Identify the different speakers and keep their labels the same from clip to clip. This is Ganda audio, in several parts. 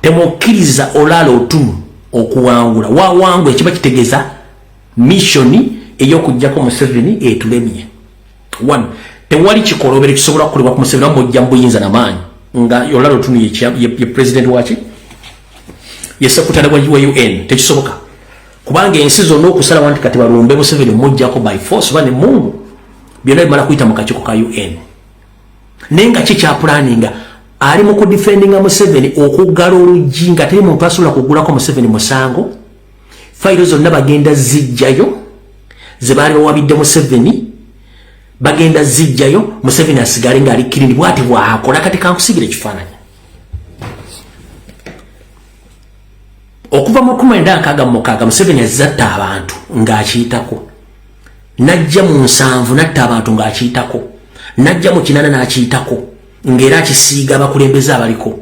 Speaker 1: temukkiriza olaala otumu okuwangula wawangula ekiba kitegeeza missoni ey'okugyako museveni etulemye one tewali kikolobero kisobola kukolebwa ku museveni amu mujja mubuyinza namaanyi nga olaala otumu ye president waki ye sekutale wa un tekisoboka kubanga ensi zonna okusalawo nti kati balumbe museveni mujjako by force oba ne mungu byonna bimala kuyita mu kakiiko ka un naye nga kikyapulaninga ali mu kudifendinga museveni okuggala oluggi nga teri muntu asobola kugulako museveni musango fayiro zonna bagenda zijjayo ze baali bawabidde museveni bagenda zijjayo museveni asigale ngaali kirindi bwati bwakola kati kankusigira ekifaananyi okuva mu kumi enda nkaaga mu mukaaga museveni azatta abantu ng'akiyitako najja mu nsanvu natta abantu ng'akiyitako najja mu kinana n'akiyitako ng'era akisiiga abakulembeze abaliko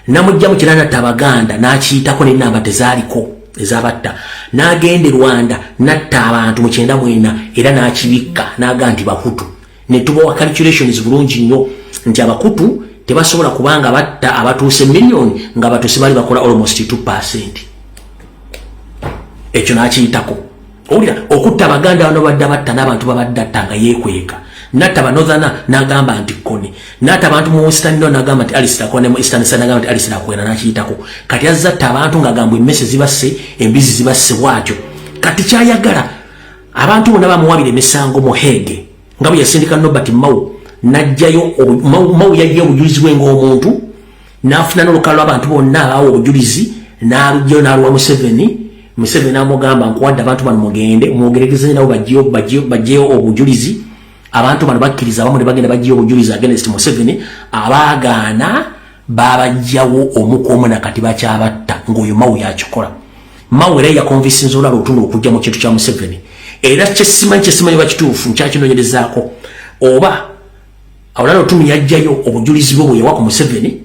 Speaker 1: namujja mu kinana natta abaganda n'akiyitako n'ennamba tezaaliko ezabatta n'agenda e rwanda natta abantu mu kyenda mwena era n'akibikka n'aga nti bahutu ne tubawa calculations bulungi nnyo nti abakutu tebasobola kubanga batta abatuuse million nga batuuse bali bakola almost 2 percent ekyo nakiyitako owulira okutta abaganda bano badda batta n'abantu babadde atta nga yeekweka natta banothana nagamba nti koni natta abantu mu western no nagamba nti alisitakwene mu eastern sa nagamba nti alisitakwena nakiyitako kati azza atta abantu ngagamba emmese zibasse embizi zibasse bwatyo kati kyayagala abantu bona bamuwabira emisango mu hege nga bwe yasindika nobert mau najjayo mau yajja obujulizi bwe ngaomuntu nafuna nolukalo lwabantu bonna abawa obujulizi nalujjayo naluwa museveni museveni amugamba nkuwadde abantu bano mugende mwogeregeze nabo bajjeyo obujulizi abantu bano bakkiriza abamu ne bagenda bajjeyo obujulizi agenest museveni abaagaana babajjawo omu ku omu na kati bakyabatta ng'oyo mawu yakikola mawu era yakonvisinza olala otunda okujja mu kintu kya museveni era kyesimanyi kyesimanyi oba kituufu nkyakinoonyerezaako oba olala otumu yajjayo obujulizi bwe bweyawa ku museveni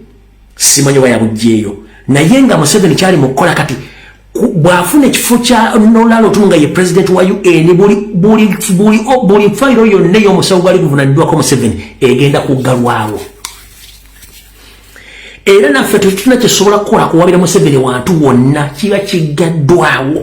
Speaker 1: simanyi oba yabujjeeyo naye nga museveni kyali mu kukola kati bwafuna ekifo kya nolalo tu nga ye president wa un buli buli buli buli fayiro yonna ey'omusawo gwali guvunaniddwako museveni egenda kuggalwawo era naffe tetulina kyesobola kukola kuwabira museveni wantu wonna kiba kiggaddwawo